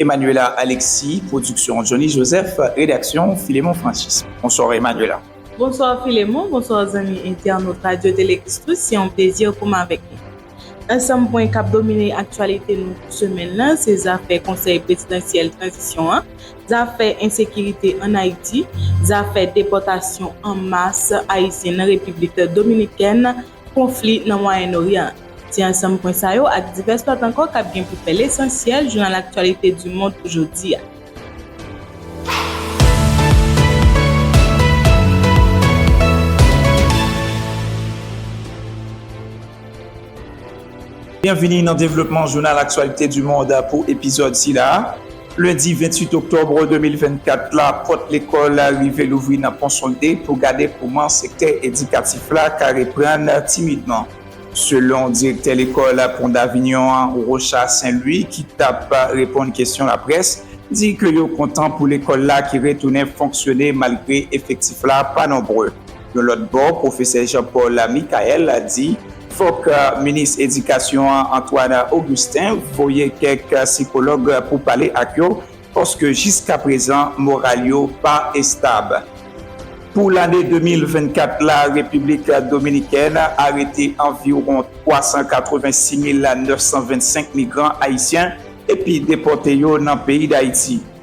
Emmanuela Alexis Production Johnny Joseph Redaksyon Philemon Francis Bonsoir Emmanuela. Bonsoir Philemon, bonsoir zanmi entènot Radio Télé Christus se yon plezi pou m avèk nou. Ansanm pwen kap domine aktyalite nou pou semèn nan se zafè konsèy prezidansyèl tranzisyon an, zafè ensekirite an Ayiti, zafè depòtasyon an mas ayisyen nan Repiblik Dominikèn, Konfli nan Mwayen Oryan an. Se ansanm pwen sa yo ak divès lòt ankò kap gen pou fè lesansyèl jounal Actualités du Monde jodi a. Byenvini nan devlopman Jounal Aktyalite di Mond pou epizòd sila a. Lendi 28 oktòb 2024 la, pòt lekòl rive louvri nan Pon Solde pou gade kouman sektè edikatif la ka reprann timidman. Selon direktè lekòl Pon Davignon an, Rocha Saint Louis ki t ap reponn kesyon laprès, di ke yo kontan pou lekòl la ki retounen fonksyone malgre efektif la pa nonbre. Yon lòt bò, pwofesè Jean Paul Michael di, Fòk minis edikasyon an Antoine Augustin voye kèk sikològ pou pale ak yo paske jiskaprezan moral yo pa estab. Pou lane 2024 la Repiblik Dominikèn arete anviwon 386925 migran ayisyen epi depòte yo nan peyi Dayiti.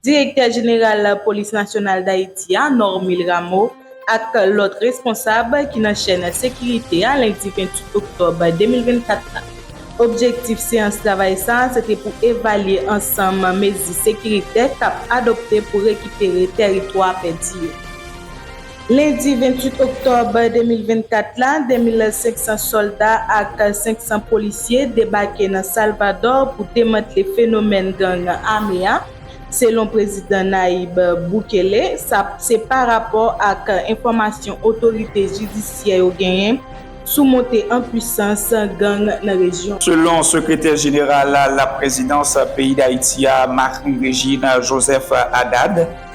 Direktè jeneral Polis Nasyonal Dayiti a, Normil Rameau, ak lòt responsab ki nan chèn sekirite a lendi 28 oktòb 2024 la. Objektif seyans travay sa a se te pou evalye ansanm mezi sekiritè k ap adopte pou rekipere tèritwa pèdi yo. Lendi 28 oktòb 2024 la, 2.500 sòlda ak 500 polisye debake nan Salvadò pou demantle fenomèn gang ame a, selon Prezidan Nayib Bukele. Sa se pa rapò ak enfòmasyon otorite jidisyè yo genyen sou monte an puisans gang nan rejyon an. Selon Sekretè Jeneral Laprezidans peyi Dayiti a, Marc Régine Joseph Haddad,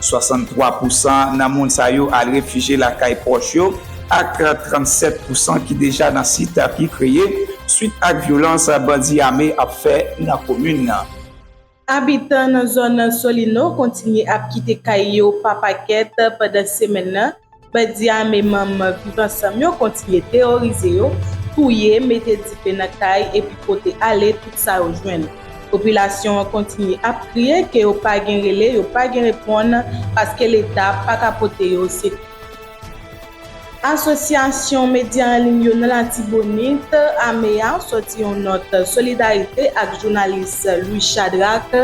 63 pousan nan moun sa yo al refije lakay pwòch yo ak 37 pousan ki deja nan sit ki kreye swit ak vyolans bandi ame ap fè nan komin nan. Abitan nan zòn Solino kontinye ap kite kay yo pa pakèt pandan semèn nan, Bandi ame manman Viv Ansanm yo kontinye teworize yo, touye, mete dife nan kay epi pote ale tout sa yo jwenn. Popilasyon an kontinye ap kriye ke yo pa gen rele, yo pa gen reponn paske Leta pa ka pote yo sekou. Asosyasyon medya an liy yo nan Latibonit, ame a, sòti yon nòt solidarite ak jounalis Louis Chadrack,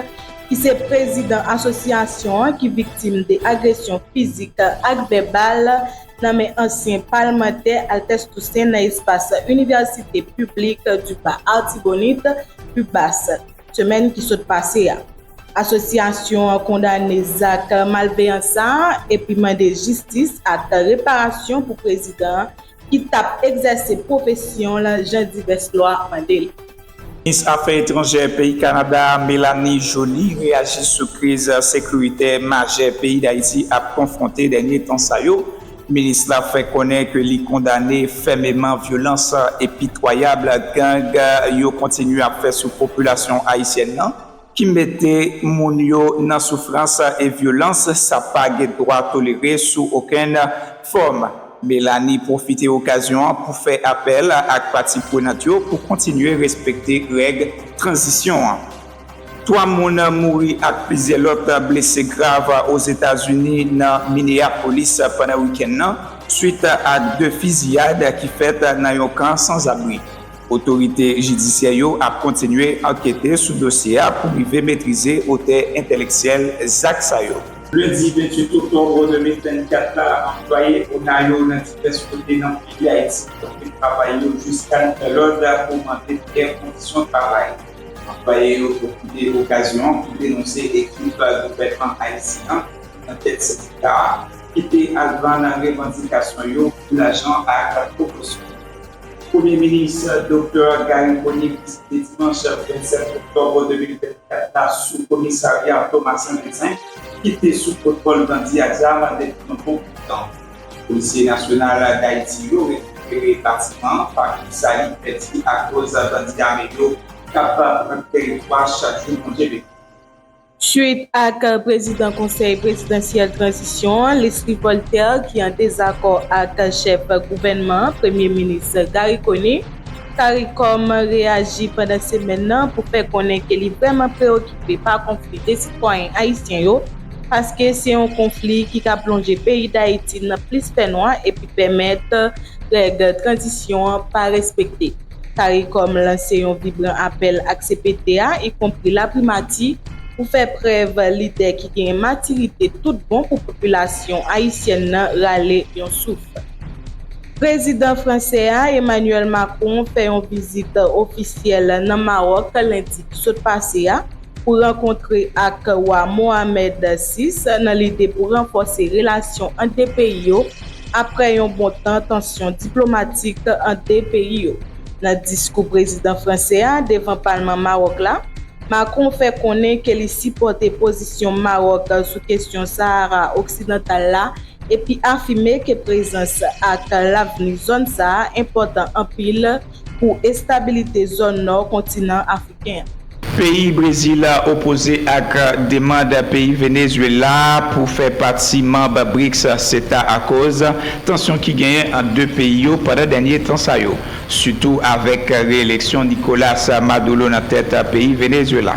ki se prezidan asosyasyon an ki viktim de agresyon fizik ak vèbal nan men ansyen palmantè Altès Tousen nan espas Université Publique du Bas-Artibonite, UBAS, semèn ki sot pase a. Asosyasyon an kondane zak malveyan sa a epi mande jistis ak reparasyon pou prezidan an ki t ap egzèse pwofesyon l jan divès lwa mande l. Minis afè etranjè peyi Kanada a Mélanie Joly reyaji sou kriz sekiritè majè peyi Dayiti ap konfwonte dènye tan sa yo. Minis la fè konnen ke li kondane fèmeman vyolans epitwayab gang yo kontinye ap fè sou popilasyon ayisyèn nan. ki mete moun yo nan soufrans e vyolans sa pa gen dwa tolere sou okenn fòm. Melanie pwofite okazyon an pou fè apèl ak pati prenant yo pou kontinye respekte règ tranzisyon an. 3 moun mouri ak plizyè lòt blese grav Ozetazini nan Minneapolis pandan wikenn nan, swit a 2 fiziyad ki fèt nan yon kan sanzabri. Otorite jidisyè yo ap kontinye ankete sou dosye a pou rive metrize otè enteleksyèl zak sa yo. Lendi 28 oktòb 2024 la, anplwaye ona yo nan divès kote nan peyi Ayiti kanpe travay yo jiska nouvel òd pou mande miyè kondisyon travay. Anplwaye yo pwofite okazyon an pou denonse ekip gouvènman ayisyen an nan tèt sendika a ki te al vann revandikasyon yo pou lajan ak pwomosyon. Premye minis Doktè Garry Conille deside dimanch 27 oktòb 2024 la sou komisarya Thomas Saint-Vincent ki te sou kontwòl bandi a zam depi yon bon bout tan. Polisye nasyonal Dayiti yo rekipere batiman an pa kou sa li pèdi akoz bandi ame yo k ap pran teritwa chak jou Bondye vle. Suit ak prezidan Konsèy Prezidansyèl Tranzisyon an, Leslie Voltaire, ki an dezakò ak chèf gouvènman an, Premye Minis Garry Conille, caricom reyaji pandan semèn nan pou fè konnen ke li vrèman preyokipe pa konfli 2 sitwayen ayisyen yo, paske se yon konfli ki ka plonje peyi Dayiti nan plis fènwa epi pèmèt règ tranzisyon an pa respekte. Caricom lanse yon vibran apèl ak cpt a, ikonpri laprimati, pou fè prèv lidè ki genyen matirite tout bon pou popilasyon ayisyèn nan rale yon souf. Prezidan fransè a, Emmanuel Macron, fè yon vizit ofisyèl nan Mawòk lendi ki sot pase a, pou rankontre ak Wa Mohammed vi nan lide pou ranfòse relasyon ant 2 peyi yo apre yon bon tan tansyon diplomatik ant 2 peyi yo. Nan diskou prezidan fransè a devan palman Mawòk la, Macron fè konnen ke li sipòte pozisyon Mawòk sou kesyon Sahara oksidantal la epi afime ke prezans ak lavni zòn sa a enpòtan anpil pou estabilite zòn nò kontinan afriken an. Peyi Brezil opoze ak demand peyi Venezuela pou fè pati manb BRICS seta akoz tansyon ki genyen ant 2 peyi yo pandan dènye tan sa yo, sitou avèk reeleksyon Nicolas Maduro nan tèt peyi Venezuela.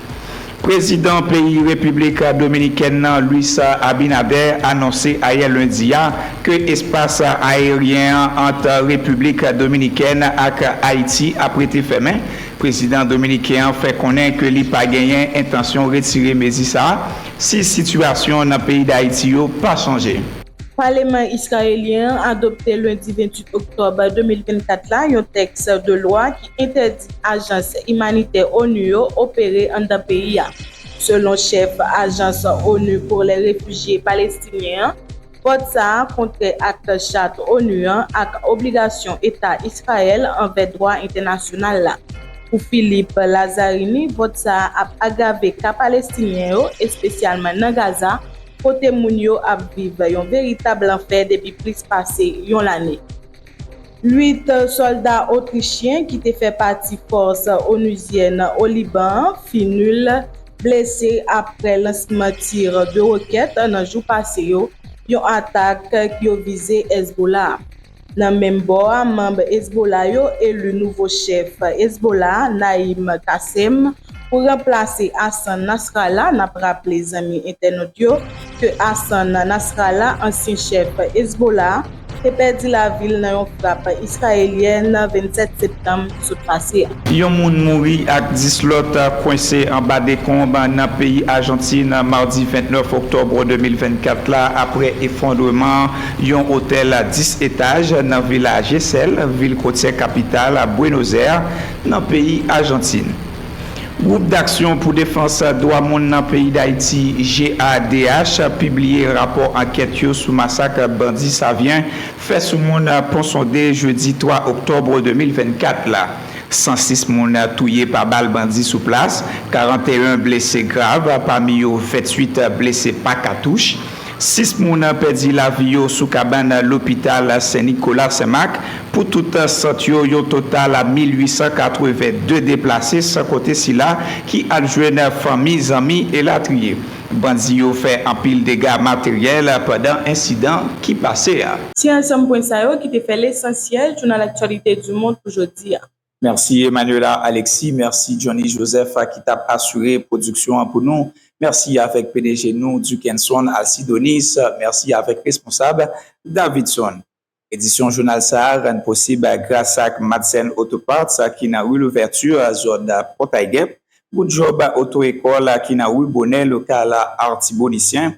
Prezidan peyi Repiblik Dominikèn nan Luis Abinader anonse ayè lendi a ke espas aeryen an ant Repiblik Dominikèn ak Ayiti ap rete fèmen. Prezidan dominiken an fè konnen ke li pa genyen entansyon retire mezi sa a si sitiyasyon nan peyi Dayiti yo pa chanje. Paleman Israelyen an adopte lendi 28 oktòb 2024 la yon tèks de lwa ki entèdi ajans imanitè onu yo opere anndan peyi a. Selon chèf ajans onu pou lè refijye palestinyen an, vòt sa a kontrè ak chat onu an ak obligasyon eta Israel anvè dwa entènasyonal la. Pou Philippe Lazzarini vòt sa a ap agrave ka palestinyen yo, espesyalman nan Gaza, kote moun yo ap viv yon veritab lanfè depi plis pase yon lane. 8 sòlda otrichyen ki te fè pati fòs onuzyèn o Liban an fin nul blese aprè lansman tir de rokèt nan jou pase yo, yon atak ki yo vize Hezbollah. Nan menm bò a manm Hezbollah yo eli nouvo chèf Hezbollah Naim Qassem Pou ranplase Hassan Nasrallah, n ap raple zanmi entènot yo ke Hassan Nasrallah, ansyen chèf Hezbollah, te pèdi lavi l nan yon frap Israelyèn 27 septanm sot pase a. Yon moun mouri ak 10 lòt kwense anba dekonb nan peyi Ajantin madi 29 oktòb 2024 la aprè efondreman yon otèl 10 etaj nan Vila Gesell, vil kotyè kapital Bwenozè. Nan peyi Ajantin, Gwoup Daksyon pou Defans Dwa Moun nan peyi Dayiti, GADH, pibliye rapò ankèt yo sou masak bandi Savyen fè sou moun Ponsonde jedi 3 oktòb 2024 la. 106 moun touye pa bal bandi sou plas, 41 blese grav, pami yo 28 blese pa katouch. 6 moun pèdi lavi yo sou kabann lopital Sen Nikola Sen Mak, pou tout sant yo yon total 1882 deplase san konte sila ki al jwenn fanmi, zanmi elatriye. Bandi yo fè anpil dega materyèl pandan ensidan ki pase a. Se ansanm pwen sa yo ki te fè lesansyèl jounal Actualités du Monde pou jodi a. Mèsi Emmanuela Alexis, mèsi Johnny Joseph ki t ap asire pwodiksyon an pou nou, mèsi avèk pdg nou Duckenson Alcidonis, mèsi avèk responsab Davidson. Edisyon jounal sa a rann posib gras ak Madsen Auto Parts ki nan Rue Louverture, zòn Pòtay Gèp, Good Job Auto École ki nan Rue Bonnet, lokal Artibonitien,